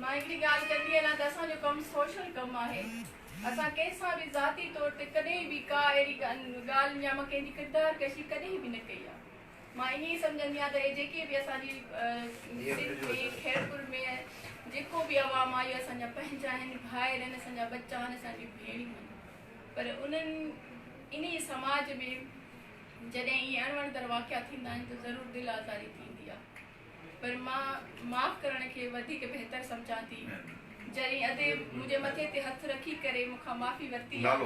مان هڪڙي ڳالهه ڪندي هلان ته اسان جو ڪم سوشل ڪم آهي. اسان ڪنهن سان به ذاتي طور تي ڪڏهن به ڪا اهڙي ڳالهه يا مان ڪنهن جي ڪردار ڪشي ڪڏهن به نه ڪئي آهي. مان ائين ئي سمجهندي آهيان ته اهي جيڪي به اسان جي سنڌ ۾ خيرپور ۾ جيڪو به عوام آهي اهي اسان جا پنهنجا آهن، ڀائر آهن، اسان جا ٻچا آهن، اسان جون ڀيڻيون آهن. پر انهن انهي سماج ۾ جڏهن ائين اڻوڻندڙ واقعا ٿيندا آهن ته ضرور دل آزاري ٿيندي آهي. پر مان معاف ڪرڻ کي وڌيڪ بهتر سمجهان ٿي. جڏهن اديب منهنجي مٿي تي هٿ رکي ڪري مون کان معافي ورتي آ.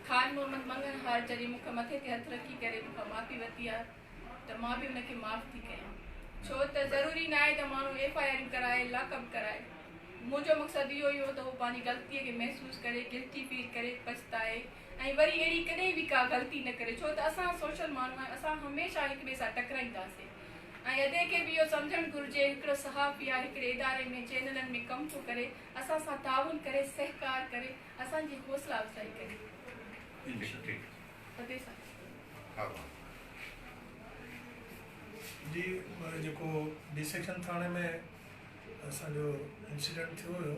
خان محمد مڱڻهار جڏهن مون کي مٿي تي هٿ رکي ڪري مون کان معافي ورتي آ ته مان به ان کي معاف ٿي ڪيان. ڇو ته ضروري ناهي ته ماڻهو ايف آء آرون ڪرائي لاڪ اپ ڪرائي. منهنجو مقصد اهو ئي هو ته هو پنهنجي غلطي کي محسوس ڪري، گلٽي فيل ڪري، پڇتائي. ۽ وري اهڙي ڪڏهن به ڪا غلطي نه ڪري ڇو ته اسان سوشل ماڻهو آهيون اسان هميشه هڪ ٻئي سان ٽڪرائينداسين ۽ ادي کي به اهو سمجهڻ گهرجي هڪڙو صحافي آهي هڪڙي اداري ۾ چينلن ۾ ڪم ٿو ڪري اسان سان تعاون ڪري سهڪار ڪري اسان جي حوصلا افزائي ڪري ادي سان جي جيڪو ڊي سيڪشن ٿاڻي ۾ اسان جو انسيڊنٽ ٿيو هيو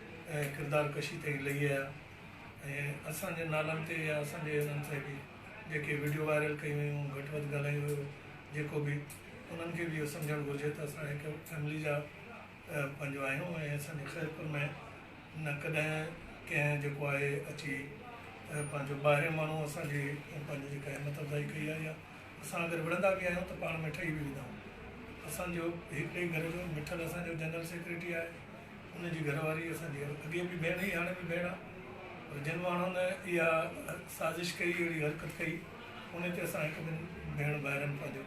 ۽ ڪردار ڪشي تائين لهي آيا ۽ اسان جي نالن تي يا اسان جي انهن تي به جيڪي وڊيو وائرل ڪيون ويون گهٽ وڌ ڳالهايو ويو جيڪو به انهن کي به اهو سمجهڻ گهرجي ته اسان هڪ فيملي جا پنهنجو آهيون ۽ اسان جي خيرپور ۾ نه ڪڏهن ڪنهن جيڪو آهي اچي پنهنجو ٻاهرين ماڻهو اسان جي پنهنجي جيڪا همت افزائي ڪئي آهي يا اسان اگر وڙهندا به آهيون ته پاڻ ۾ ٺهي به ويندا آهيون اسان جو هڪڙي گهر جو مٺل اسان جو جنرل سيڪريٽري آهي ان جي گهر واري اسان جي اڳي به ڀيڻ هئي هاڻي به ڀيڻ آ پر جن ماڻهن اها سازش ڪئي اهڙي حرڪت ڪئي ان تي اسان هڪ ٻن ڀيڻ ڀائرن پنهنجو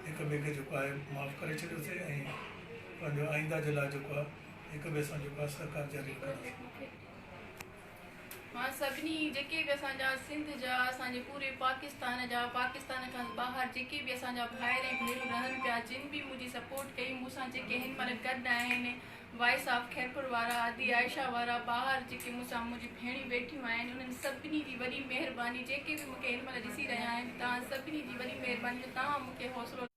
هڪ ٻئي کي جيڪو آهي معاف ڪري ڇڏيو سي ۽ پنهنجو آئنده جي لاء جيڪو آ هڪ ٻئي سان جيڪو آ سهڪار جاري رکنداسين. مان سڀني جيڪي به اسان جا سنڌ جا اسان جي پوري پاڪستان جا پاڪستان کان ٻاهر جيڪي به اسان جا ڀائر ۽ ڀينرون رهن پيا جن به منهنجي سپورٽ ڪئي مون سان جيڪي هن مهل گڏ آهن وائس آف خيرپور وارا ادي عائشه وارا ٻاهر جيڪي مون سان منهنجي ڀيڻيون ويٺيون آهن انهن سڀني جي وڏي مهرباني جيڪي به مون کي هن مهل ڏسي رهيا آهن توهان سڀني جي وڏي مهرباني جو توهان مون کي حوصلو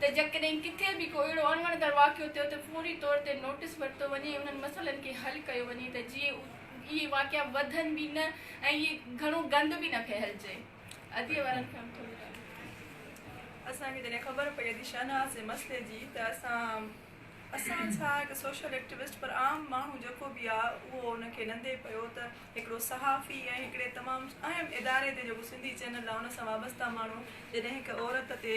ته جيڪڏهن ڪٿي به ڪو اهڙو اڻوڻندڙ واقعو ٿيو ته فوري طور تي نوٽس ورتو وڃي ۽ انهن مسئلن کي حل ڪيو وڃي ته جيئن اهي واقعا وڌن به نه ۽ اهي گهڻو گند به نه ڦهلجي. ادي وارن کي هم ٿوري ڳالهه ٻڌايو. اسان کي جڏهن خبر پئي ادي شاهنواز جي مسئلي جي ته اسان اسان ڇا هڪ سوشل ايڪٽيوسٽ پر عام ماڻهو جيڪو به آ اهو ان کي نندي پيو ته هڪڙو صحافي ۽ هڪڙي تمام اهم اداري تي جيڪو سنڌي چينل آ ان سان وابسته ماڻهو جڏهن هڪ عورت تي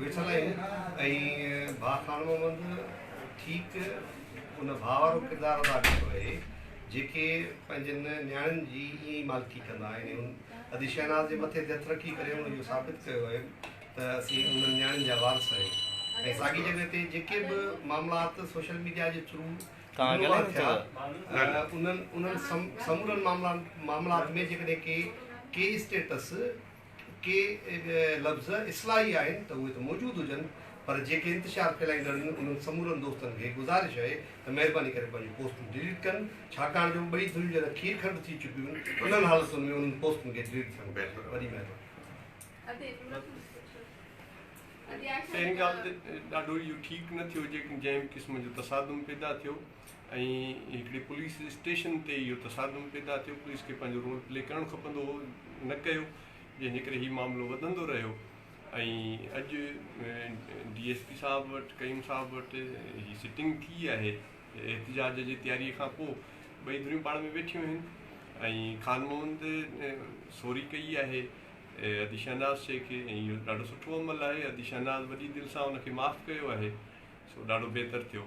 ويٺل آهن ۽ ڀاء خان محمد ٺيڪ ان ڀاء وارو ڪردار ادا ڪيو آهي جيڪي پنهنجن نياڻين جي ائين ئي مالڪي ڪندا آهن ۽ هن ادي شهناز جي مٿي تي هٿ رکي ڪري هن اهو ثابت ڪيو آهي ته اسين انهن نياڻين جا وارث آهيون ۽ ساڳي جڳهه تي جيڪي به معاملات سوشل ميڊيا جي ٿرو رونما ٿيا انهن انهن سمورن معاملات ۾ جيڪڏهن ڪي ڪي اسٽيٽس ڪي لفظ اصلاحي آهن ته اهي ته موجود هجن پر جيڪي انتشار ڦهلائيندڙ آهن انهن سمورن دوستن کي گذارش اهي ته مهرباني ڪري پنهنجون پوسٽون ڊليٽ ڪن ڇاڪاڻ جو ٻئي ڌريون جڏهن کير کنڊ ٿي چڪيون آهن انهن حالتن ۾ انهن پوسٽن کي ڊليٽ ٿيڻ گهرجي وڏي مهرباني. تنهن ڳالهه تي ڏاڍو اهو ٺيڪ نه ٿيو جيڪڏهن جنهن به قسم جو تصادم پيدا ٿيو. ۽ هڪڙي پوليس اسٽيشن تي اهو تصادم پيدا ٿيو، پوليس کي پنهنجو رول پلي ڪرڻ کپندو هو، نه ڪيو، جنهن جي ڪري هي معاملو وڌندو رهيو ۽ اڄ ڊي ايس پي صاحب وٽ قيوم صاحب وٽ هي سٽنگ ٿي آهي احتجاج جي تياري کان پوء ٻئي ڌريون پاڻ ۾ ويٺيون آهن ۽ خان محمد سوري ڪئي آهي ادي شهناز شيخ کي ۽ اهو ڏاڍو سٺو عمل آهي ادي شهناز وڏي دل سان ان کي معاف ڪيو آهي سو ڏاڍو بهتر ٿيو